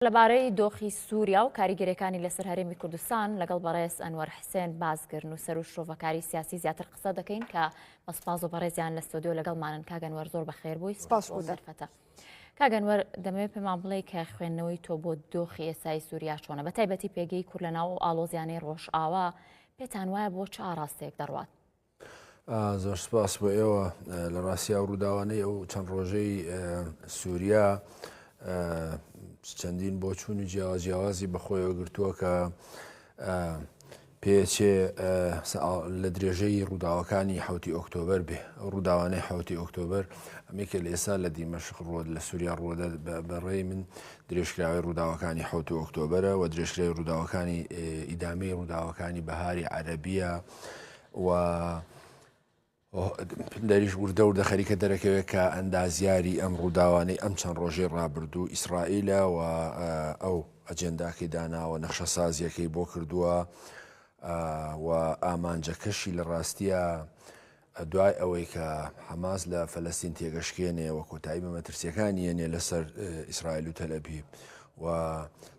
لەبارەی دۆخی سووریا و کاریگەرییەکانی لەسەر هەرێمی کوردستان لەگەڵ بەڕێز ئەنوەر حسێن بازگر نووسەر و شرۆڤەکاری سیاسی زیاتر قسە دەکەین کە بە سپاس و بەڕێزیان لە ستۆدیۆ لەگەڵمانن کاگەنوەر زۆر بەخێر بووی سپاس بۆ دەرفەتە کاگەنوەر دەمەوێت پێمان بڵێ کە خوێندنەوەی تۆ بۆ دۆخی ئێسای سووریا چۆنە بە تایبەتی پێگەی کورد لە ناو ئاڵۆزیانەی ڕۆژئاوا پێتان وایە بۆ چ ئاراستەیەک دەڕوات زۆر سپاس بۆ ئێوە لە ڕاستیا و ڕووداوانەی ئەو چەند ڕۆژەی سووریا چەندین بۆ چوون و جیاوا جیاوازی بەخۆیەوە گرتووە کە پێچێ لە درێژەی ڕووداوەکانی حوتی ئۆکتۆبر بێ ڕووداوانەی حوتی ئۆکتۆبر ئەمێکە لە ئێستا لە دیمەشق ڕۆد لە سووریا ڕۆدە بەڕێی من درێژکراوی ڕووداوەکانی حوت ئۆکتۆبرە و درێژکراوی ڕووداوەکانی ئیدامی ڕووداوەکانی بەهاری عەربیە و دەریش وردە وردە خەریکە دەرەکەوێت کە ئەندازیاری ئەم ڕووداوانەی ئەم چەند ڕۆژەی ڕابردوو ئیسرائیلە و ئەو ئەجێنداکەی داناوە نەخشە سازیەکەی بۆ کردووە و ئامانجەکەشی لە ڕاستیە دوای ئەوەی کە حەماس لە فەلستین تێگەشکێنێ و کۆتایی بە مەترسیەکان یەنێ لەسەر ئیسرائیل و تەلەبی و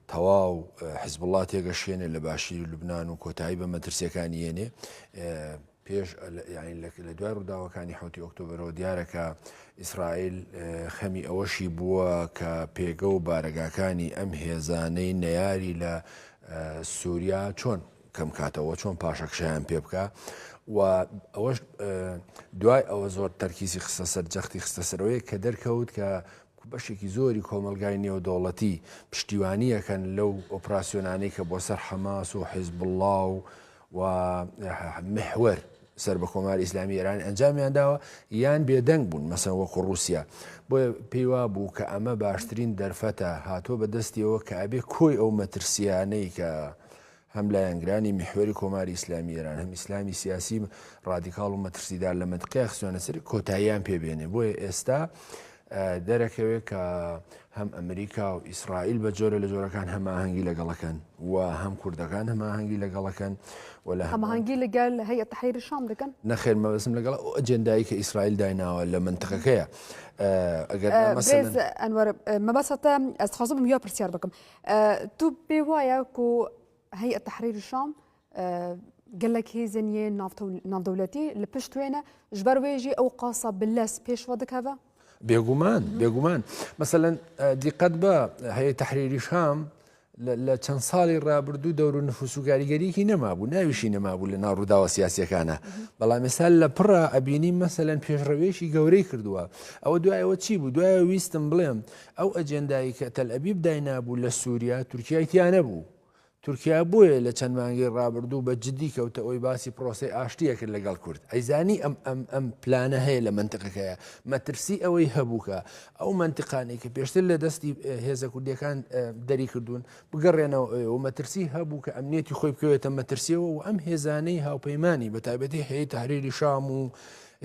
تەواو حزبوڵڵا تێگەشێنێ لە باشیری لوبناان و کۆتایی بە مەترسیەکانی یێنێ پێش لە دوای ڕووداوەکانی حوتی ئۆکتۆبرەوە دیارەکە ئیسرائیل خەمی ئەوەشی بووە کە پێگە و بارەگاکانی ئەم هێزانەی نەیاری لە سووریا چۆن کەم کاتەوە چۆن پاشەکشیان پێ بکە و ئەوەش دوای ئەوە زۆر تەرکیزی خستە سەر جەختی خستە سەرەوەی کە دەرکەوت کە کە بەشێکی زۆری کۆمەڵگای نێودەوڵەتی پشتیوانییەکەن لەو ئۆپراسیۆنانەی کە بۆ سەر حەماس و حیزبوڵڵا و و محوەر سەر بە کۆماری ئیسلامی ئێرانی ئەنجامیان داوە یان بێدەنگ بوون مەسەن وەکو رووسیا بۆیە پێیوا بوو کە ئەمە باشترین دەرفەتە هاتووە بە دەستیەوە کە ئەبێ کۆی ئەو مەترسیانەی کە هەم لایەنگرانی میحوەری کۆماری ئیسلامی ئێران، هەم ئیسلامی سیاسی ڕادیکاڵ و مەترسیدار لە مەنتقەیە خستویانە سەری، کۆتاییان پێ بێنێ. بۆیە ئێستا دەرەکەوێ کە هەم ئەمریکا و ئیسرائیل بە جۆرە لە جۆرەکان هەماهەنگی لەگەڵەکەن و هەم کوردەکان هەماهەنگی لەگەڵەکەن و لە هەماهەنگی لەگەل هەیە تحریری شام دەکەن نەخێر مەبەسم لەگەڵ ئەو ئەجێندایی کە ئیسرائیل دایناوە لە منتقەکەیە ئەگەر ئە، ئەنوەر مەبەسەتە ئەستخوازم یا پرسیار بکەم تو پێ وایە کو هەیئە تەحریر شام گەلک هێزن یێ ناودەولەتی لە پشت وێنە ji ber wê jî ew qasa bi lez pêş ve dikeve بێگومان بێگومان مەسەەن دیقەت بە هەیە تحریری شام لە چەند ساڵی ڕابردوو دەور و نفوس و گاریگەریکی نەمابوو ناویشی نەمابوو لە ناو ڕووداوە سیاسەکانە بەڵام ێستا لە پڕە ئەبینی مەسەەن پێشڕەوێکی گەورەی کردووە ئەوە دوایەوە چی بوو دوایە ویستم بڵێم ئەو ئەجێندایەی کە تەلئەبیب داینابوو لە سووریا، تورکیای تیا نەبوو. تورکیا بۆیە لە چەند مانگەی ڕابردوو بە جددی کەوتە ئۆی باسی پرۆسەی ئاشتی ئەکرد لە گەڵ کورد. ئەیزانی ئەم ئەم ئەم پلانە هەیە لە مەنتقەکەیا. مەترسی ئەوەی هەبوو کە ئەو مەنتقانەی کە پێشتر لە دەستی هێزە کوردیەکان دەری کردوون بگەڕێنەوە ئۆی و مەترسی هەبوو کە ئەمنیەتی خۆی بکەوێتە مەترسیەوە و ئەم هێزانەی هاوپەیمانی بە تایبەتی هەیەی تەحریری شام و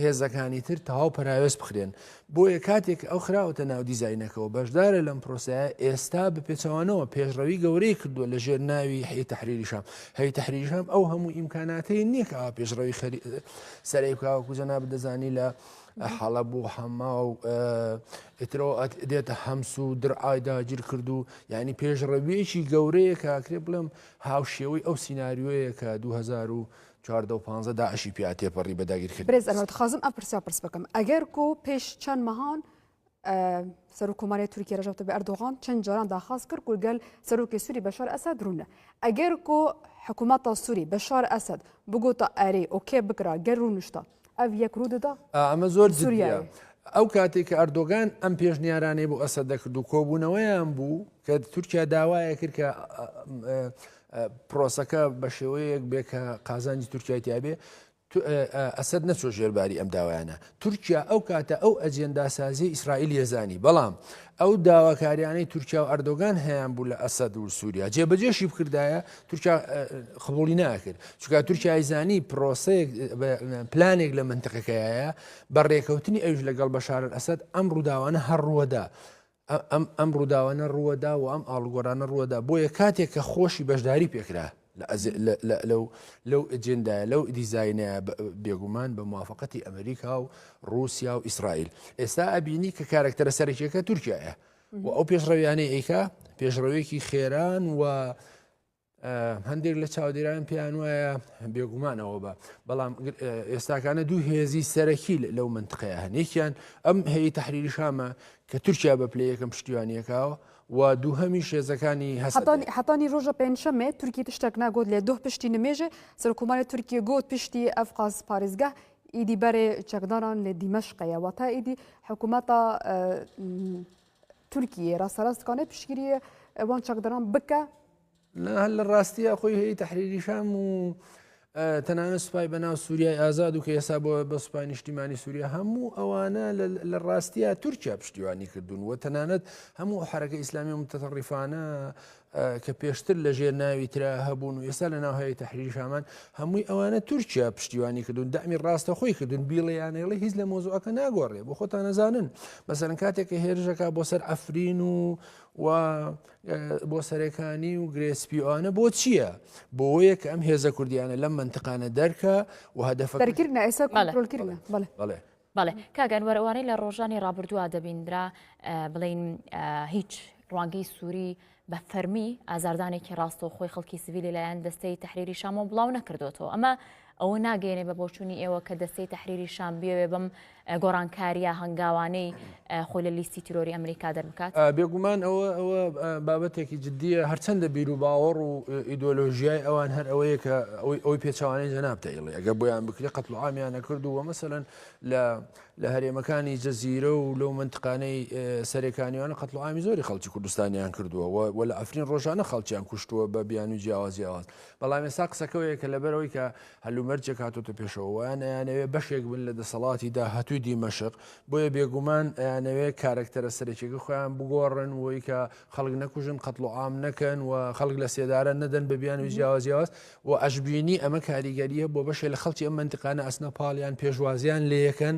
هێزەکانی تر تەواو پەراوێز بخرێن بۆیە کاتێک ئەو خراوەتە ناو دیزینەکەەوە بەشدارە لەم پرۆسایە ئێستا بپێچەوانەوە پێشڕەوی گەورەی کردووە لە ژێر ناوی هەی تحریریشام هەی تحریریشام ئەو هەموو ئیمکاناتی نییە کە پێشڕەوی خەری سەرەی بکوکو جەنا بدەزانی لە حاڵە بۆ حەما و ئترۆ دێتە هەمس و درعای داگیر کرد و ینی پێشڕەویەکی گەورەیە کاکرێ بڵێم هاوشێوەی ئەو سینناریۆیە کە 2000 چواردە و پانزە داعشی پیا تێپەڕی بە داگیر کردن. برێز ئەمە دخوازم ئەم پرسیار پرس بکەم ئەگەر کو پێش چەند مەهان سەرو کۆماری تورکی رژەوتە بە ئەردۆغان چەند جاران داخواست کرد گورگەل سەرۆکی سووری بەشار ئەسد روونە ئەگەر کو حکوومەتە سووری بەشار ئەسد بگوتە ئەرێ ئۆکێ بکرا گەر روونشتە ئەڤ یەک روو ددا ئا ئەمە زۆر جدیە. ئەو کاتەی کە ئەردۆگان ئەم پێشنیارانەی بۆ ئەسەد دەکرد و کۆبوونەوەیان بوو کە تورکیا داوایە کرد کە پرۆسەکە بە شێوەیەک بێ کە قازانجی تورکای تیاابێ ئەسد نەچۆ ژێرباری ئەم داوایانە تورکیا ئەو کاتە ئەو ئەجێنداسازی ئیسرائیل یەزانی بەڵام ئەو داواکاریانەی تورکیا و ئەردۆگان هەیان بوو لە ئەسد و سووریا جێبەجێشی بکردایە تورکیا قبولی ناکرد چکە تورکیای زانی پرۆسەیەک پلانێک لە منتقەکەیە بە ڕێکەوتنی ئەوش لەگەڵ بەشارن ئەسد ئەم ڕووداوانە هەڕووەدا ئەم ئەم ڕووداوانە ڕووەدا و ئەم ئاڵگۆرانە ڕووەدا بۆیە کاتێک کە خۆشی بەشداری پێکرا لەو لەو ئجندایە لەو دیزینە بێگومان بە موواافقەتی ئەمریکا و رووسیا و ئیسرائیل ئێستا ئەبینی کە کارکتەرە سەرکیەکە تورکایە و ئەو پێشڕەویانەی ئەیکا پێشڕەوێکی خێران و هەندێک لە چاودێران پێیان وایە بێگومانەوە بە بەڵام ئێستاکانە دوو هێزی سەرەکی لەو منتقەیە هەن یەکیان ئەم هەیە تحریری شامە کە تورکیا بە پلی یەکەم پشتیوانیەکەوە و دوو هەمی شێزەکانی هەستانی حتانی ڕۆژە پێنجشەمێ تورکی تشتێک ناگوت لێ دۆ پشتی نمێژێ سەرکوماری تورکیە گوت پشتی ئەفقاز پارێزگە ئیدی بەرێ چەکداران لە دیمەشقەیە وە تا ئیدی حکوومەتە تورکیە ڕاستەڕاستکانە پشگیریە ئەوان چەکداران بکە هەل لە ڕاستیە خۆی هەیە تحریریشام و تەنانە سوپای بەناو سووریای ئازاد و کە ئێسا بۆ بە سوپای نیشتیمانی سووریا هەموو ئەوانە لە ڕاستیە تورکیا پشتیوانی کردوون و تەنانەت هەموو حرەکە ئیسلامی و متتەڕیفانە کە پێشتر لە ژێر ناوی ترا هەبوون و ئێستا لە ناو هەیە تحریری شامان هەمووی ئەوانە تورکیا پشتیوانی کردون دامی ڕاستە خۆی کردون بیڵیانەیڵی هیچ لە مۆزوعەکە ناگۆڕێ بۆ خۆتان نەزانن بەسەرن کاتێککە هێرشەکە بۆ سەر ئەفرین و و بۆ سەرەکانی و گرێسپیوانە بۆ چییە بۆ یەک ئەم هێزە کوردیانە لەم منتقانە دەرکە و هەدەفەکردە ئێستا بەڵێ بەڵێ کاک ئەنوەر ئەوانەی لە ڕۆژانی ڕابردووە دەبیندرا بڵین هیچ ڕوانگەی سووری بە فەرمی ئازاردانێکی ڕاستە و خۆی خەڵکی سڤیلی لایەن دەستەی تحریری شامۆ بڵاو نەکردوەوە ئەمە ئەوە ناگەێنێ بە بۆچوونی ئێوە کە دەستەی تحریری شام بێوێ بم گۆڕانکاریە هەنگاوانەی خۆی لە لیستی تیرۆری ئەمریکا دەربکات. بێگومان ئەوە ئەوە بابەتێکی جددیە هەرچەندە بیروباوەڕ و ئیدۆلۆژیای ئەوان هەر ئەوەیە کە ئەوەی ئەوەی پێچوانەی جەناب تەیڵێ ئەگە بۆیان بکرێ قەت و عامیان نەکرد و وەمەسەن لە لە هەرێمەکانی جەزیرە و لەو منتقانەی سەرێکانیانە قەت و عامی زۆری خەڵکی کوردستانیان کردووە و لە ئەفرین ڕۆژانە خەڵکیان کوشتووە بە بیان و جیاواز جیاواز بەڵام ێسا قسەکەوەیە کە لەبەرەوەی کە هەلومەرجێک هاتۆتە پێشەوە وایان ئەیانەوێ بەشێک بن لە دەسەڵاتی داهاتووی دیمەشق، بۆیە بێگومان ئەیانەوێ کارەکتەرە سەرەکیەکە خۆیان بگۆڕن و ئیکە خەڵک نەکوژن قەتڵوعام نەکەن و خەڵک لە سێدارە نەدەن بە بیانوی جیاوازیاواز و ئەشببینی ئەمە کاریگەریە بۆ بەشێ لە خەڵکی ئەم منتقانە ئەسنە پاڵیان پێشوازیان لەیەکەن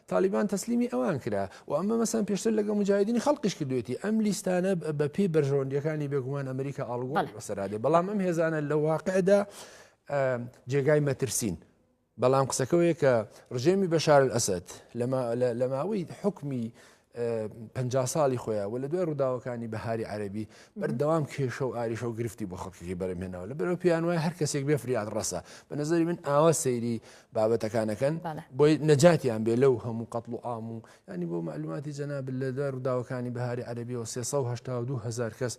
تالیبان تەسلیمی ئەوان کرا و ئەمە مەسەن پێشتر لەگەڵ مجاهدینی خەڵقیش کردوێتی ئەم لیستانە بە پێی بەرژەوەندیەکانی بێگومان ئەمریکا ئاڵگۆ بەسەرادێ بەڵام ئەم هێزانە لە واقعدا جێگای مەترسین بەڵام قسەکەوەیە کە ڕژێمی بەشار ئەسد لە ماوەی حکمی پ ساڵی خۆیان و لە دوای ڕووداوەکانی بەهاری عەربی بەردەوام کێشە و ئاریشە و گرفتی بۆ خەڵکی بەرەمێنەوە لە بەرەو پێیان وای هەر کەسێک بێ فریاد ڕەسە بە نظری من ئاوا سەیری بابەتەکانەکەن بۆی نەجاتیان بێ لەو هەموو قەتڵ و ئام و ینی بۆ معلوماتی جەناب لە دار وداوەکانی بەهاری عەربیەوە 1970هزار کەس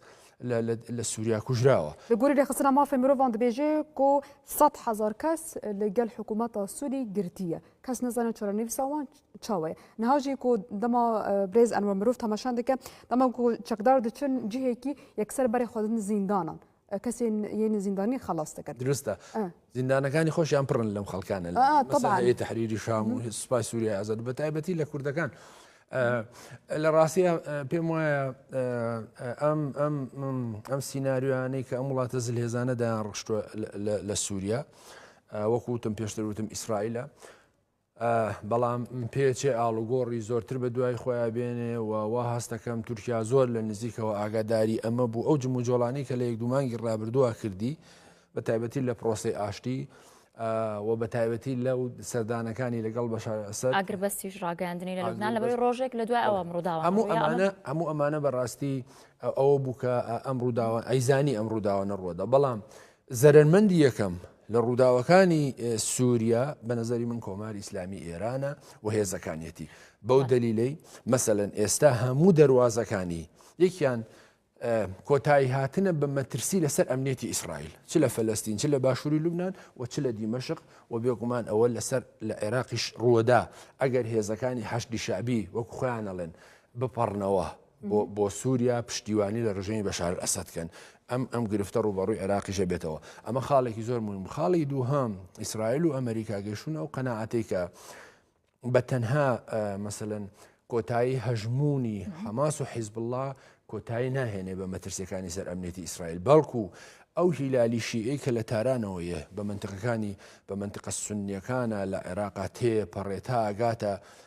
لە سووریا کوژراوە گوری لە خستنا مافی مرۆڤان دەبێژێ کۆ 100 هزار کەس لەگەل حکوومەتە سووری گرتیە کەس نزانە چرە نویساوان چاوەیە نهاژی کۆ دەما برێز ئەنوە مرۆڤ تەماشان دەکە دەما چەکدار دچن جهێکی یەکسەر بەرێ خۆدن زیندانان کەسێ یەنی زیندانی خلاص دەکەن درستە زیندانەکانی خۆشیان پڕن لەم خەڵکانە لە تحریری شام و سوپای سووریای ئازاد بە تایبەتی لە کوردەکان لە ڕاستە پێم وایە ئەم ئەم ئەم سینناریوانەی کە ئەم وڵاتە زل هێزانە دایان ڕشتوە لە سووریا وەکوتم پێشتر وتم ئیسرائیلە بەڵام پێچێ ئاڵوگۆڕی زۆرتر بە دوای خۆیان بێنێ و وا هەست دەکەم تورکیا زۆر لە نزیکەوە ئاگاداری ئەمە بوو ئەو جموجۆڵانەی کە لە یەک دومانگی ڕابردووە کردی بە تایبەتی لە پرۆسی ئاشتی و بە تایبەتی لە سەردانەکانی لەگەڵ بەشار ئەسەر ئاگربەستیش ڕاگەاندنی لە لوبناان لە بەری ڕۆژێک لە دوای ئەوە ڕووداوە هەموو ئەمانە هەموو ئەمانە بەڕاستی ئەوە بووکە ئەم ڕووداوە ئەیزانی ئەم ڕووداوە نەڕوەدا بەڵام زەرەرمەندی یەکەم لە ڕووداوەکانی سووریا بە نەزەری من کۆماری ئیسلامی ئێرانە و هێزەکانیەتی بەو دەلیلەی مەسەەن ئێستا هەموو دەواازەکانی یەکیان کۆتایی هاتنە بە مەترسی لەسەر ئەمنێتی ئیسرائیل چ لە فلستین چ لە باشووری لوبناان و چ لە دیمەشق و بێگومان ئەوە لەسەر لە عێراقیش ڕووەدا ئەگەر هێزەکانی حەشدی شابی وەکو خۆیانەڵێن بپەڕنەوە بۆ بۆ سوریا پشتیوانی لە ڕژێمی بەشار ئەسەد کەن ئەم ئەم گرفتە ڕوبەڕوی عێراقیشە بێتەوە ئەمە خاڵێکی زۆر مهم خاڵی دووهام ئیسرائیل و ئەمریکا گەشتون ئەو قەنەعاتەی کە بە تەنها مەسەن کۆتایی هەژمونی حەماس و حیزب الله کۆتایی ناهێنێ بە مەترسیەکانی سەر ئەمنێتی ئیسرائیل بەڵکو ئەو هیلالی شیعی کە لە تارانەوەیە بە منتقەکانی بە منتقە سنیەکانە لە عێراقا تێ پەڕێتا ئەگاتە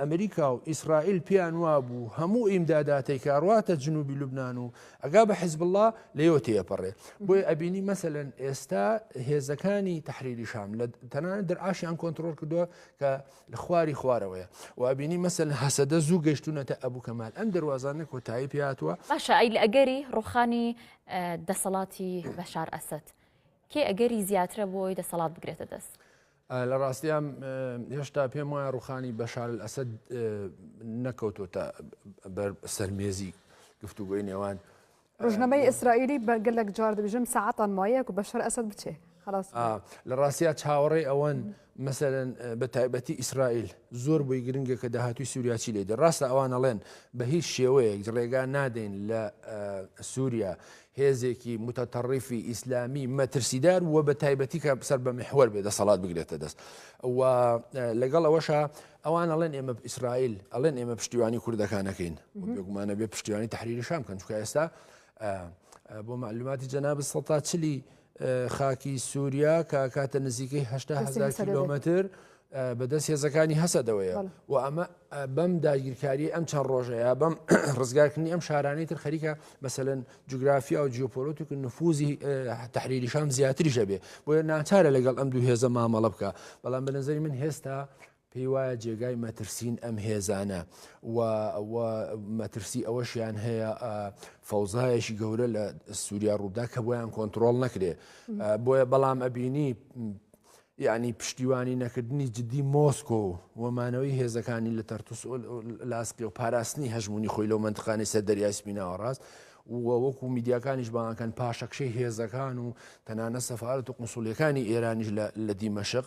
ئەمریکا و ئیسرائیل پێیان وابوو هەموو ئیمداداتەی کە ئەڕواتە جنوبی لوبنان و ئەگا بە حزبوڵا لەیەوە تێئەپەڕێ بۆیە ئەبینی مەسەلەن ئێستا هێزەکانی تەحریری شام لە تەنانەت دەرعاشیان کۆنترۆل کردووە کە لە خواری خوارەوەیە و ئەبینی مەسەل هەسەدە زوو گەشتونەتە ئەبوو کەمال ئەم دەروازانە کۆتایی پێاتوە باشە ئەی لە ئەگەری ڕوخانی دەسەڵاتی بەشار ئەسد کێ ئەگەری زیاترە بۆی دەسەڵات بگرێتە دەست لە ڕاستیا هێشتا پێم وایە ڕوخانی بەشار ئەسد نەکەوتۆتە بەر سەرمێزی گفتوگۆی نێوان ڕژنەمەی ئیسرائیلی بە گەلک جار دەبژم ساعتان مایەک و بەشەر ئەسد بچێ لە ڕاستیا چاوەڕێ ئەوەن مەسەرەن بە تایبەتی ئیسرائیل زۆر بۆی گرنگە کە داهاتوی سووریاچی لێدە ڕاستە ئەوانەڵێن بە هیچ شێوەیەک ڕێگا نادەین لە سووریا هێزێکی متطرفی ئیسلامی مەترسیدار و بە تایبەتی کە سەر بە محوەر بێ دەسەڵات بگرێتە دەست و لەگەڵ ئەوەشە ئەوان ئەڵێن ئێمە ئیسرائیل ئەڵێن ئێمە پشتیوانی کوردەکانەکەین بێگومانە بێ پشتیوانی تحریری شام کەن چکە ئێستا بۆ معلوماتی جەناب سەتا چلی خاکی سووریا کە کاتە نزیکەی هشتا هزار کیلومتر بەدەست هێزەکانی هەسەدەوەیە و ئەمە بەم داگیرکاری ئەم چەند ڕۆژەیە بەم ڕزگارکردنی ئەم شارانەی تر خەریکە مەسەن جوگرافیا و جیۆپۆلۆتیک نفوزی تحریری شام زیاتریشە بێ بۆیە ناچارە لەگەڵ ئەم دوو هێزە مامەڵە بکە بەڵام بە نظری من هێستا پێی وایە جێگای مەترسین ئەم هێزانە و ئەوە مەترسی ئەوەشیان هەیە فەوزایەکی گەورە لە سووریا ڕوودا کە بۆیان کۆنتترۆل نەکرێ بۆیە بەڵام ئەبینی یعنی پشتیوانی نەکردنی جددی مۆسکۆ وەمانەوەی هێزەکانی لە تەرتوس لاسقی و پاراستنی هەژمونی خۆی لەو منتخانی سەر دەریای سپیناوە ڕاست وەکو میدیاکانیش بانکەن پاشەکشەی هێزەکان و تەنانە سەفاارت و قنسولیەکانی ئێرانیش لە دیمەشق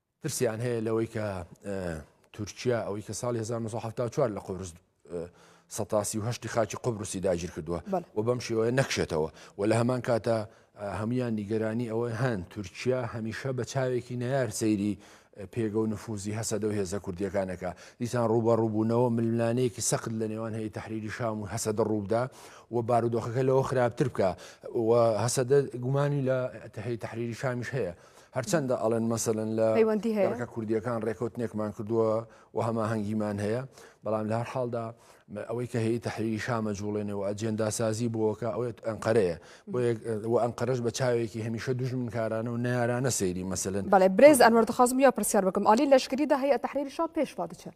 ترسیان هەیە لەوەی کە تورکیا ئەوەی کە ساڵی 1970 لە قورس سەتاسی و هەشتی خاچی قبرسی داگیر کردووە و بەم شێوەیە نەکشێتەوە و لە هەمان کاتە هەمویان نیگەرانی ئەوەی هەن تورکیا هەمیشە بە چاوێکی نەیار سەیری پێگە و نفوزی هەسەدە و هێزە کوردیەکانەکە دیسان ڕوبە ڕووبوونەوە ململانەیەکی سەخت لە نێوان هەیە تحریری شام و هەسەدە ڕووبدا و بارودۆخەکە لەوە خراپتر بکە و هەسەدە گومانی لە تهی تحریری شامیش هەیە هەرچەندە ئەڵێن مەسەن لە پەیوەندی هەیەکە کوردیەکان ڕێکوتنێکمان کردووە و هەماهەنگیمان هەیە بەڵام لە هەر حاڵدا ئەوەی کە هەیە تحریری شامە جوڵێنێ و ئەجێنداسازی بۆکە ئەوەی ئەنقەرەیە و ئەنقەرش بە چاوێکی هەمیشە دژمن کارانە و نارانە سەیری مەسەن بەڵێ برێز ئەنوەردەخوازم یا پرسیار بکەم عالی لەشکریدا هەیە تحریری شام پێشوا دچێت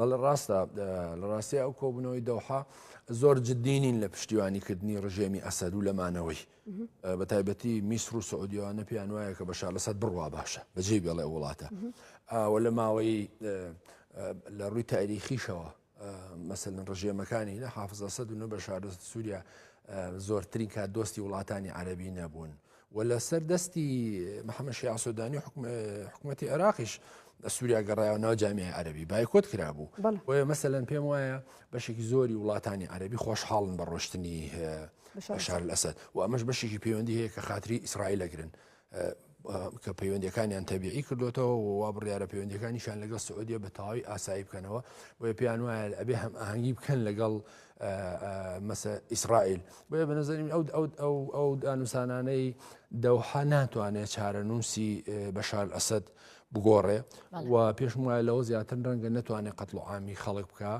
بەڵ ڕاستە لە ڕاستەیە ئەو کۆبنەوەی دەوحا زۆر جددینین لە پشتیوانیکردنی ڕژێمی ئەسەر و لەمانەوەی بە تایبەتی میسر و سعودیوانە پێیان وایە کە بەشار لەسەر بڕوا باشە بەجێ بێڵێ وڵاتە ئاوە لە ماوەی لە ڕووی تاریخیشەوە مەسەن ڕژێمەکانی نە حافزە سەد و نە بە شارە سووریا زۆرترین کات دۆستی وڵاتانی عەربی نەبوون. و لە سەر دەستی محەممەد شیع سۆدانی و حکوومەتی عێراقیش سووریا گەڕایەوە ناو جامیای عەربی بایکۆت کرابوو بۆیە مەسەەن پێم وایە بەشێکی زۆری وڵاتانی عەربی خۆشحاڵن بە ڕۆشتنی شار لەسەد و ئەمەش بەشێکی پەیوەندی هەیە کە خااتری ئیسرائیل لەگرن کە پەیوەندەکانیان تەبیعی کردوێتەوە وا بڕیاە پەیوەندەکانیشان لەگەڵ سعودیە بە تەواوی ئاسایی بکەنەوە بۆیە پێیان وایە ئەبێ هەم ئاهنگی بکەن لەگەڵ مثە ئیسرائیل بۆیە بە نظری من ئەو ئەو ئەو ئەو دانوسانانەی دەوحە ناتوانێت چارەنووسی بەشار ئەسد بگۆڕێ و پێشم وایە لەوە زیاتر ڕەنگە نتوانێت قەتڵعامی خەڵک بکە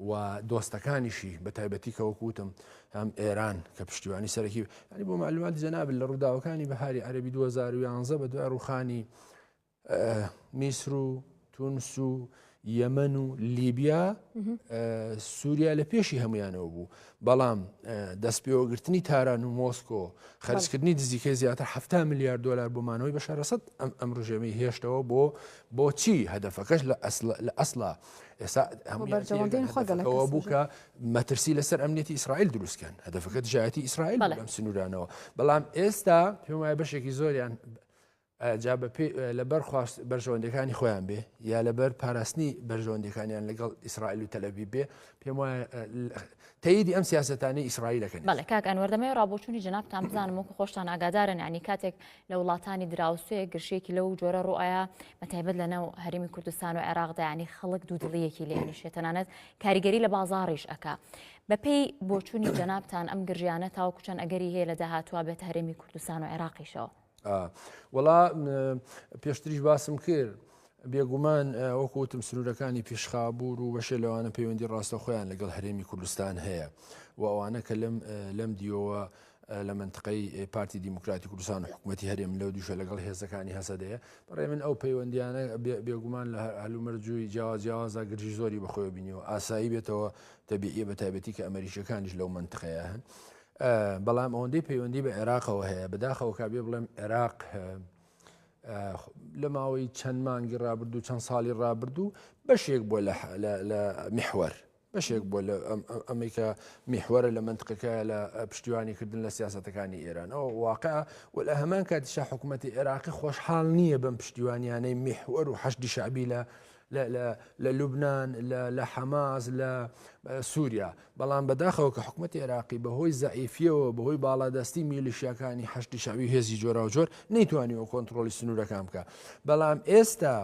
و دۆستەکانیشی بە تایبەتی کەوەکوتم هەم ئێران کە پشتیوانی سەرەکی ینی بۆ معلوماتی جەناب لە ڕووداوەکانی بەهاری عەربی 2011 بە دوای ڕوخانی میسر و تونس و یەمەن و لیبیا سووریا لە پێشی هەمویانەوە بوو بەڵام دەست پێوەگرتنی تاران و مۆسکۆ خەرجکردنی دزیکە زیاتر ه میلیارد دلار بۆمانەوەی بەشارەسەد ئەم ئەم ڕژێمی هێشتەوە بۆ بۆچی هەدەفەکەش لە لە ئەسلا ئێستا هەموو بووکە مەترسی لەسەر ئەمنیەتی ئیسرائیل دروستکەن هەدەفەکە دژایەتی ئیسرائیل لەم سنوورانەوە بەڵام ئێستا پێم وایە بەشێکی زۆریان جا بەپێی لەبەر خواست بەرژەوەندەکانی خۆیان بێ یا لەبەر پاراستنی بەرژەوەندەکانیان لەگەڵ ئیسرائیل و تەلەبی بێ پێم وایە تەیدی ئەم سیاستانی ئیسرائیلەکەن بەڵێ کاک ئەنوەردەمەوە ڕابۆچوونی جنابتان بزانم وەکو خۆشتان ئاگادارن ینی کاتێک لە وڵاتانی دراوسێ گرشێکی لەو جۆرە ڕوئایە بەتایبەت لە ناو هەرمی کوردستان و عێراقدایانی خەڵک دوودڵیەکی لێنیشێت تەنانەت کاریگەری لە بازاڕیش ئەک بەپێی بۆچوونی جنابتان ئەم گرژیانە تاوەکوچەند ئەگەری هەیە لە داهاتوە بێت هەرێمی کوردستان و عێراقیشەوە وەڵا پێشتریش باسم کرد بێگومان وەکوتم سنوورەکانی پیشخابور و بەشێ لەوانە پەیوەندی ڕاستە خۆیان لەگەڵ هەرێمی کوردستان هەیە و ئەوانە کە لەم لەم دیەوە لە منطقەی پارتی دیموکراتی کوردستان و حکوومەتتی هەرێم لەو دوشە لەگەڵ هێزەکانی هەسەدەیە بەڕێ من ئەو پەیوەندیانە بێگومان لە هەلومەرجووی جیاوازیاوازە گرژی زۆری بەخۆی بینیەوە ئاسایی بێتەوە دەبیە بە تایبەتی کە ئەمریکەکانیش لەو منطقەیە هەن. بەڵام ئەوەندەی پەیوەندی بە عێراقەوە هەیە بەداخەوە کابێ بڵێم عێراق لە ماوەی چەند مانگی ڕابردوو چەند ساڵی ڕابردوو بەشێک بۆ لە میحوەر بەشێک بۆ لە ئەمریکا میحوەرە لە منتقەکە لە پشتیوانی کردن لە سیاستەکانی ئێران ئەو واقع و لە هەمان کاتیشا حکوومەتتی عێراقی خۆشحاڵ نییە بەم پشتیوانیانەی میحوەر و حەشدی شعبی لە لە لوبنان، لە حەماس، لە سوریا. بەڵام بەداخەوە کە حکومەتی عێراقی بەهۆی زەعیفیەوە بەهۆی باڵادەستی میلیشیاکانی حەشدی شەعبی و هێزی جۆراوجۆر نەیتوانیوە کۆنتترۆلی سنوورەکان بکە بەڵام ئێستا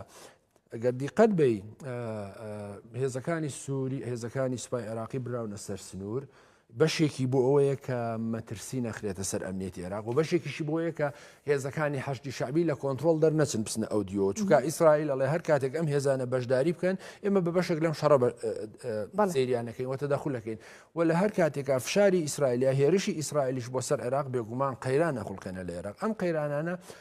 ئەگەر دیقەت بی هێزەکانی سووری هێزەکانی سوپای عێراقی براونە سەر سنوور بەشێکی بۆ ئەوەیە کە مەترسی نەخرێتە سەر ئەمنیەتی عێراق و بەشێکیشی بۆیە کە هێزەکانی حەشدی شعبی لە کۆنتترۆل دەرنەچن بچنە ئەو دیەوە چونکە ئیسرائیل ئەڵێ هەر کاتێک ئەم هێزانە بەشداری بکەن ئێمە بە بەشێک لەم شەڕە سریانەکەین وەتە دەخولەکەین و لە هەر کاتێکا فشاری ئیسرائیلیا هێرشی ئیسرائیلیش بۆ سەر عێراق بێگومان قەیرانە خوڵکەنە لە عێراق ئەم قەیرانانە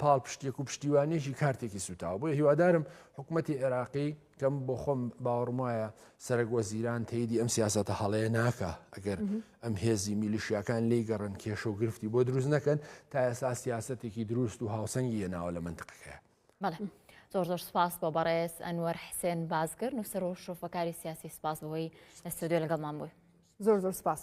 پاڵپشتێک و پشتیوانێکی کارتێکی سوتاوە بۆیە هیوادارم حکوومەتتی عێراقی کەم بۆ خۆم باوەڕم وایە سەرەک وە زیران تەیدی ئەم سیاستە هەڵەیە ناکە ئەگەر ئەم هێزی میلیشیاکان لی گەڕن کێشە و گرفتی بۆ دروست نەکەن تا ئێستا سیاستێکی دروست و هاوسەنگی هێناوە لە منتقەکەی. بەڵێ زۆر زۆر سپاس بۆ بەڕێز ئەنوەر حسێن بازگر نووسەر و شرۆفەکاری سیاسی سپاس بۆی لە ستۆدیۆ لەگەڵمان بووی زۆر زۆر سپاس.